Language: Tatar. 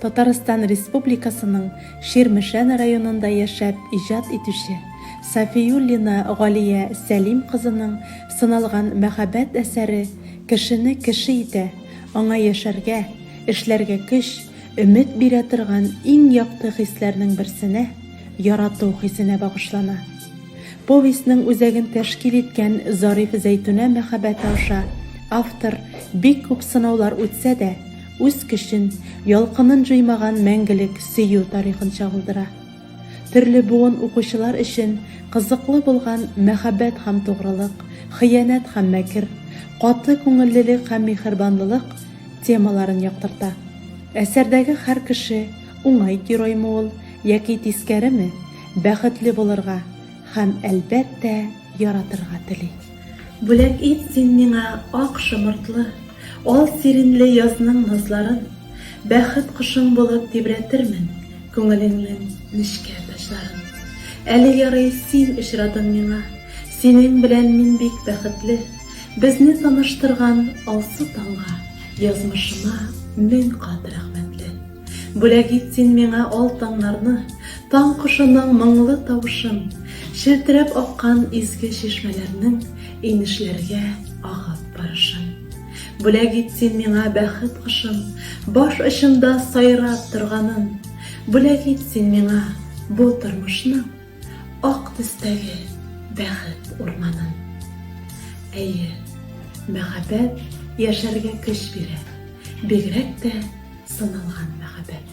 Татарстан Республикасының Ширмешән районында яшәп иҗат итүче Сафиуллина Галия Сәлим кызының сыналган мәхәббәт әсәре кешене кеше итә, аңа яшәргә, эшләргә көч, өмет бирә торган иң якты хисләрнең берсенә, ярату хисенә багышлана. Повестьның үзәген тәшкил иткән Зариф-Зәйтүнә мәхәббәте аша автор бик күп сынаулар үтсә дә, Үз кешен, ялкынын җуймаган мәңгелек сөю тарихын чагылдыра. Төрле буын укучылар өчен кызыклы булган мәхәббәт һәм тугрылык, хыянәт һәм мәкер, каты күңеллелек һәм миһербанлылык темаларын яктырта. Әсәрдәге һәр кеше, уңай героймы ул, яки тискәреме, бәхетле булырга һәм, әлбәттә, яратырга тели. Бүләк ит син миңа ак шомыртлы, Ал сиринле язның назларын, Бәхет кошың булып тибрәтермен Күңелеңнең нечкә таҗларын. Әле ярый син очрадың миңа, Синең белән мин бик бәхетле, Безне таныштырган алсу таңга, Язмышыма мең кат рәхмәтле. Бүләк ит син миңа ал таңнарны, Таң кошының моңлы тавышын, Челтерәп аккан изге чишмәләрнең Инешләргә агып барышын. Бүләк ит син миңа бәхет кошын, Баш очында сайрап торганын, Бүләк ит син миңа бу тормышның. Ак төстәге бәхет урманын. Әйе, мәхәббәт яшәргә көч бирә, бигрәк тә сыналган мәхәббәт.